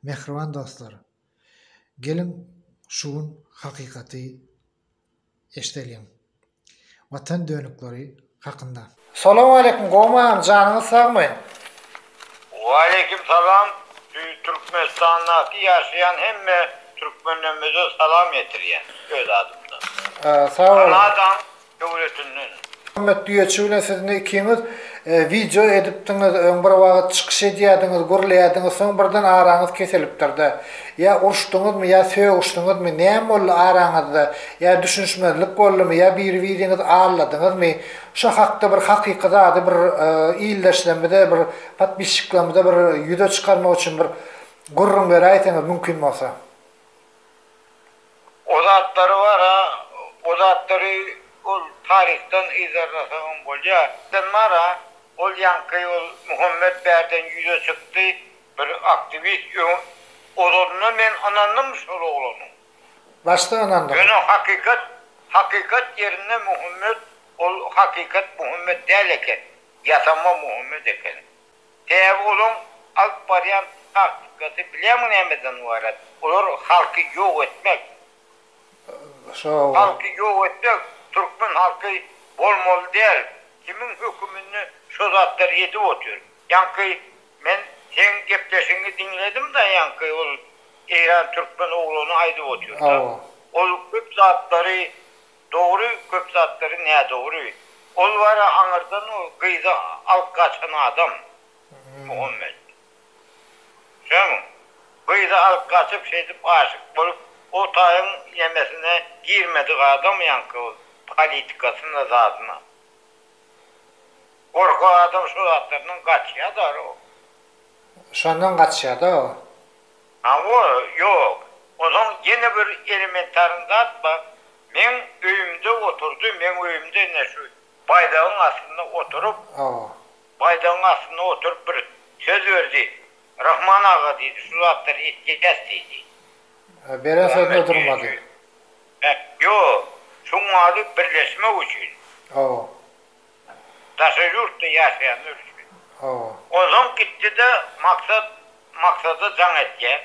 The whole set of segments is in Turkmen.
Mähriban dostlar, geliň şu gün hakykaty eşdeliň Watan dönükleri hakynda. Salowmaleýkim gowmam janyňyz sagmy. Waleýkim salam Türkmenistandaky ýaşaýan hemme Türkmenlerimize salam ýetirýän öz adymdan. Sag boluň. döwletinden. Muhammet düýeçi bilen siz indi ikiňiz wideo edipdiňiz, öň bir wagyt çykyş edýädiňiz, gürleýädiňiz, soň birden araňyz kesilipdir-de. Ýa uruşdyňyzmy, ýa sögüşdiňizmi, näme boldy araňyzda, ýa düşünişmezlik boldumy, ýa biri-biriňizi alladyňyzmy, şo hakda bir hakyky zady bir ildeşlerimize, bir podpisçiklerimize bir ýüze çykarmak üçin bir gürrüň beräýseňiz mümkin bolsa. O zatlary bar-a, o zatlary ol taryhdan yzarlasaňam bolýar. Sen bar-a, ol ýaňky ol Muhammet bärden ýüze çykdy, bir aktiwist, öň, ozalyndan men ynandym şol oglana. Başda ynandyň. Ýöne hakykat, hakykat ýerinde Muhammet, ol hakykat Muhammet däl eken, ýasama Muhammet eken. Sebäbi olaň alyp barýan taktikasy bilýäňmi nämeden ybarat? Olar halky ýok etmek. Halky ýok etmek, türkmen halky bolmaly däl. Kimiň höküminde şo zatlar edip otyr. Ýaňky men seň gepleşigiňi diňledim-de ýaňky ol eýran türkmen oglany aýdyp otyrda. Ol köp zatlary Dogry köp zatlary nädogry. Ol bara aňyrdan o gyzy alyp gaçan adam Muhammet. Düşýäňmi? Gyzy alyp gaçyp şeýdip aşyk bolup o taýyň ýemesine girmedik adam ýaňky ol politikasyna zadyna. Gorkak adam şu zatlardan gaçýadar o. Şondan gaçýada o. Hawa, ýok. Onsoň ýene bir elementaryň zat bar, meň öýümde oturdy, meň öýümde ine şu baýdagyň astynda oturyp, Hawa. Baýdagyň astynda oturyp bir söz berdi. Rahman aga diýdi, şu zatlary etjäs diýdi. He, beren sözüne durmady. He, ýok. Şuň ady birleşmek üçin. Hawa. Daşary ýurtda ýaşaýanlar üçin. Hawa. Onsoň gitdi-de Maksat Maksada jaň etýär.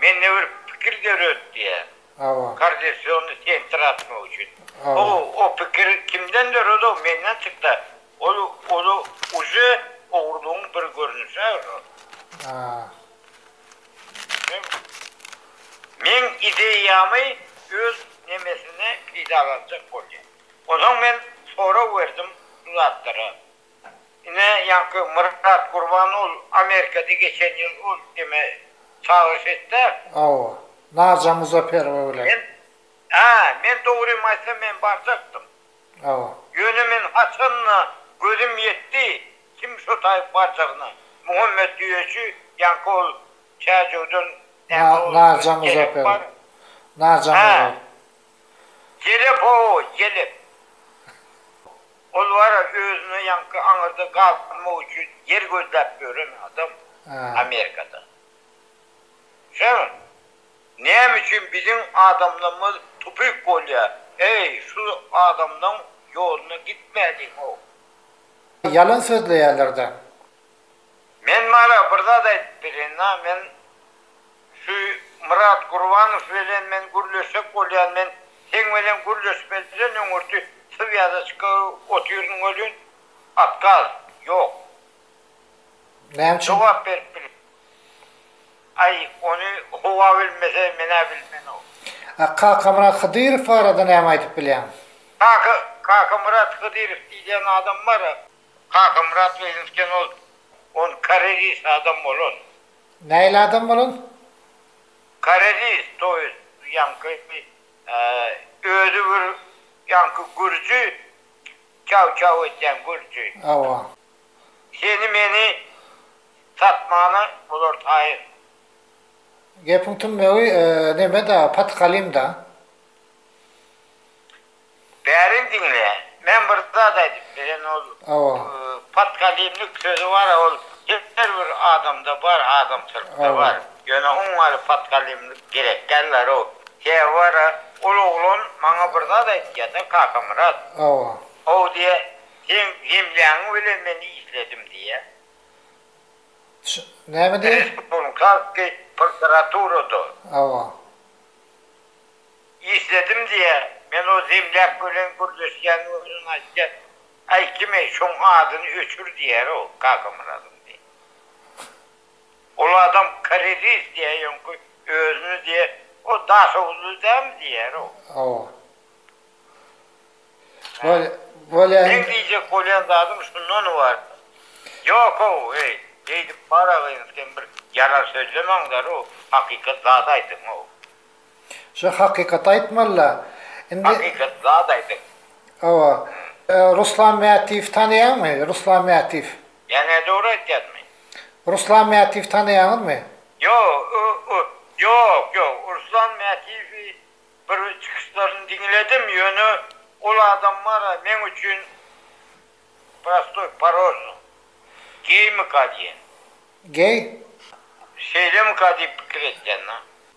Mende bir pikir döret diýýär. Hawa. Koordinasionny sentr açmak üçin. Hawa. O o pikir kimden döredi-ow, menden çyksa, ol ol uje ogurlygyň bir görnüşi-ä ol. Haa. Meň ideýamy öz nemesine peýdalanjak bolýar. Onsoň men sorag berdim bu zatlara. Ine, ýaňky Myrat Gurban ol Amerikada geçen ýyl ol deme çagyryş etdi. Hawa, Naja Muzaperowa bilen. Men, hä, men dogrymy aýtsam men barjakdym. Hawa. Ýöne men haçan-da gözüm ýetdi, kim şo taýyp barjagyna. Muhammet Düýeçi, ýaňky ol Täjewden näme ol. Naja Muzaperow. Naja Muzaperow. Ýelep o, ýelep! Ol wara özüne ýaňky aňyrda galmak üçin ýer gözläp ýören adam Amerikada. Sen näme üçin biziň adamlarymyz tupik bolýa, eý, şu adamlaň ýoluna gitmäliň-ow! Ýalan sözleýärler-dä. Men Mara bir zat aýdyp bereýin-a, men şu Myrat Gurbanow bilen men gürleşjek bolýan, men seň bilen gürleşmeli bilen öňürti swýazaçka otyryn welin, otkaz, ýok. Näme üçin? Jogap berip bilmeýän. Aý, ony howa bilmese, men-ä bilmen-ow. A Kakamyrat Hydyrow barada näme aýdyp bilýäň? Kaka, Kakamyrat Hydyrow diýilýän adam bar-a. Kakamyrat Leýinskden ol on karelis adam bolan. Nähili adam bolan? Karelis to ýest ýaňky özi bir ýaňky gürji çaw çaw edýän gürji. Hawa. Seni meni satmana bular taýyn. Gepiň tümmegi nemeda Patkalim da. Bärin diňle. Men bir zat aýdyp beren ol podkalimnik sözi bara ol her bir adamda bar adamsyrykda bar ýöne oň ýaly podkalimnik gerek dällerow sebäbi bara ol oglan maňa bir zat aýtýada Kakamyrat ow diýe seň zemlýaňyň bilen men işledim diýe näme diýe respublikaskiý prokuraturada. Isledim diýä men o zemlýak bölen gürleşýän özüniň aýtýan aýtymy şoň adyny öçür diýär o kakamyradyň diýä. Ol adam karelis diýä ýoňky özüni diýä o daşoguzly dämi diýär o. Hawa. Bolýa. Meň diýjek bolýan zadym şundan ybarat. Ýokow eý eýdip baragyň sen bir ýalan sözlemäňdar o hakykat zat aýdyň o. Şu hakykaty aýtmalyda. Indi. Hakykat zat aýdyň. Hawa. Ruslan Mätiwi tanaýaňmy? Ruslan Mätiw. Ýa-ne dogry aýtýarmy? Ruslan Mätiwi tanaýaňyzmy? Ýo, o, ýok, ýok. Ruslan Mätiwi bir çykyşlaryny diňledim, ýöne ol adam bar-a meň üçin prostoý parol. Geýmika diýen. Geý? Şeýlemika diýip pikir etýän-de.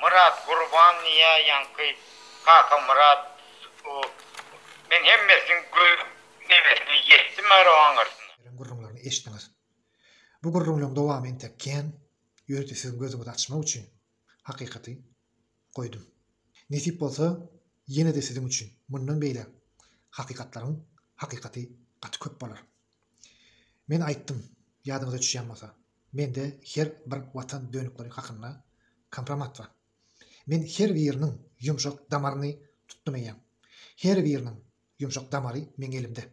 Myrat gurban niye yanky kaka myrat o men hemmesini göz mewesine yetdim arabaň gyrsyna. Beren gürrüňlerini eşitdiňiz. Bu gürrüňleň dowamy entek kän ýörite siziň gözüňizi açmak üçin hakykaty goýdum. Nesip bolsa ýene-de siziň üçin mundan beýläk hakykatlaryň hakykaty gaty köp bolar. Men aýtdym ýadyňyza düşýän bolsa. Mende her bir watan dönükleri hakynda kompromat bar. Men her biriniň ýumşak damaryny tutdum eýýäm. Her biriniň ýumşak damary meň elimde.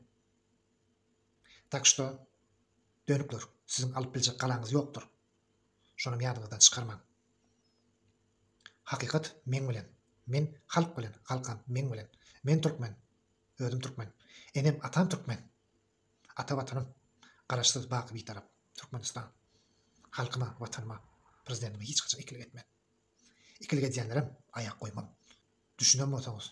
Tak şto, dönükler, siziň alyp biljek galaňyz ýokdur. Şonam ýadyňyzdan çykarmaň. Hakykat meň bilen. Men halk bilen, halkam meň bilen. Men türkmen. Özüm türkmen. Enem, atam türkmen. Ata Watanym, Garaşsyz, baky Bitarap Türkmenistan! Halkyma, Watanyma, Prezidentime hiç haçan ikilik etmen. Ikilik edýänlerem aýak goýman. Düşünen bolsaňyz,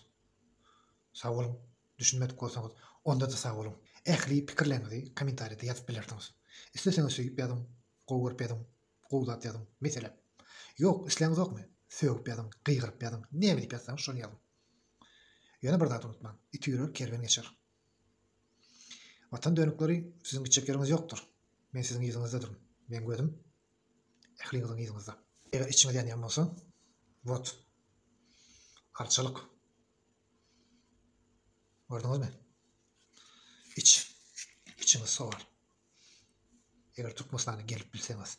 sag boluň, düşünmedik bolsaňyz, onda-da sag boluň. Ähli pikirleriňizi kommentariýada ýazyp bilersiňiz. Isleseňiz söýüp ýazyň, gowy görüp ýazyň, gowy zat ýazyň, meselem. Ýok, isläňizokmy, sögüp ýazyň, gygyryp ýazyň, näme diýip ýazsaňyz, şony ýazyň. Ýöne bir zady unutmaň, iti ýörer, kerwen geçer. Watan dönükleri siziň gitjek ýeriňiz ýokdur. Men siziň yzyňyzda durun. Meň gözüm ähliňiziň yzyňyzda. Eger içiňiz ýanýan bolsa, wot, arçalyk. Gördüňizmi? Iç, içiňiz sowar. Eger Türkmenistana gelip bilseňiz.